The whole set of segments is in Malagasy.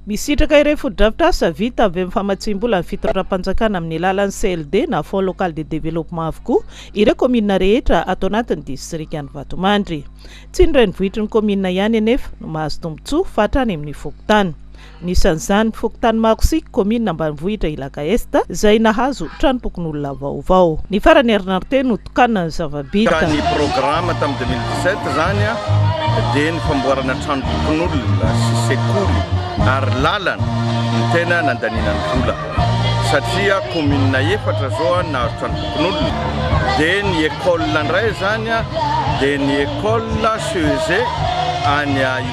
Misitraka ireo fotodrafitrasa vita avy amin'ny famatsiam-bola ny fitondram-panjakana amin'ny alalan'ny CLD na Fonds Local de Développement avokoa ireo kaominina rehetra ato anatin'ny distrikan'i Vatomandry. Tsy ny renivohitry ny kaominina ihany anefa no mahazo tombontsoa fa hatrany amin'ny fokontany. Anisan'izany ny fokontany Makosiky, kaominina ambanivohitra Ilaka Est, izay nahazo tranompokonolona vaovao. Ny faran'ny herinandro teo no. mpitokana ny zava-bita. Ny programa tamin'ny deux mille dix-sept izany dia ny famboarana tranom-bokin'olona sy sekoly ary lalana no tena nandaniana ny vola satria commune efatra izao no nahazo tranom-bokin'olona dia ny école indray izany dia ny école CEG any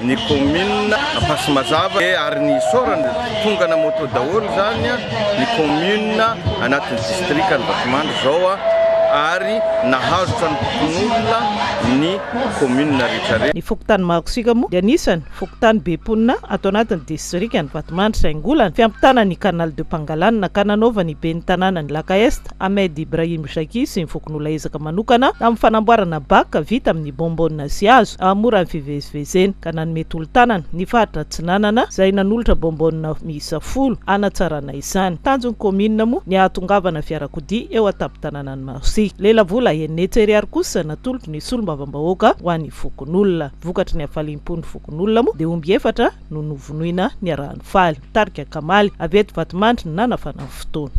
ny commune Ampasimazava ary ny isaorana tongana moto daholo izany ny commune anatin'ny district ny Vatomandry izao ary nahazo tranompokonolona ny commune rehetra rehetra. Ny fokontany Mahakosika moa dia anisany fokontany be mponina ato anatin'ny district ny Vatomandry saingy olana ny fiampitana ny canal de Pangalana ka nanaovan'ny ben'ny tanàna ny Lac Est Ahmed Ibrahim Jaki sy ny fokonolona ezaka manokana amin'ny fanamboarana baka vita amin'ny bonbonne sy hazo hahamora ny fivezivezena, ka nanome tolo-tanana ny faritra Atsinanana izay nanolotra bonbonne miisa folo hanatsarana izany. Tanjon'ny kaominina moa ny hahatongavana fiarakodia eo an-tampon-tanànan'i Marsi. Lelavola Hennetse Eriary kosa natolotry ny solombavambahoaka ho an'ny fokonolona. Vokatry ny hafaliam-pon'ny fokonolona moa dia omby efatra no novonoina niaraha-nifaly. Tarika Kamaly, avy eto Vatomandry no nanafana ny fotoana.